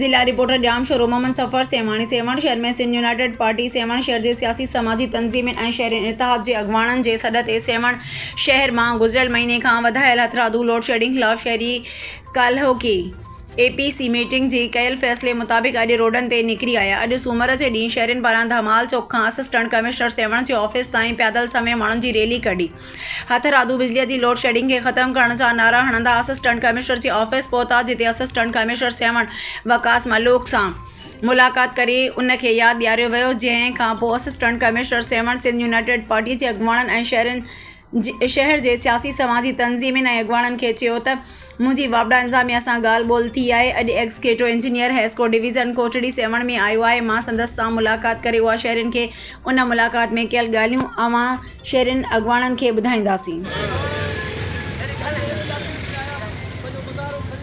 ضلع reporter Jamshoro Muhammad Safar Sehwan Sehwan شهر ۾ Sindh united party Sehwan شهر جي سياسي سماجي تنظيمن ۽ شهرين اتحاد جي اڳواڻن جي سڏ تي سيوهڻ شهر مان گذريل مهيني کان وڌايل هٿرادو لوڊشيڊنگ خلاف شهري ڪالهوڪي اي پي سي ميٽنگ جي ڪيل فيصلي مطابق اڄ روڊن تي نڪري آيا، اڄ سومر جي ڏينهن شهرين پاران ڌمال چوڪ کان اسسٽنٽ ڪمشنر سيوهڻ جي آفيس تائين پيادل سميت ماڻهن جي ريلي ڪڍي هٿرادو بجلي جي لوڊ شيڊنگ کي ختم ڪرڻ جا نعرا هڻندا اسسٽنٽ ڪمشنر جي آفيس پهتا جتي اسسٽنٽ ڪمشنر سيوهڻ وقاص ملوڪ سان ملاقات ڪري ان کي ياد ڏياريو ويو جنهن کانپوء assistant commissioner Sehwan Sindh united party جي اڳواڻن ۽ شهرين شهر جي سياسي سماجي تنظيمين ۽ اڳواڻن کي چيو ته منهنجي واپڊا انتظاميا سان ڳالهه ٻولهه ٿي آهي اڄ executive engineer HESCO division Kotri Sehwan ۾ آيو آهي مان سندس سان ملاقات ڪري اها شهرين کي ان ملاقات ۾ ڪيل ڳالهيون اوهان شهرين اڳواڻن کي ٻڌائينداسين.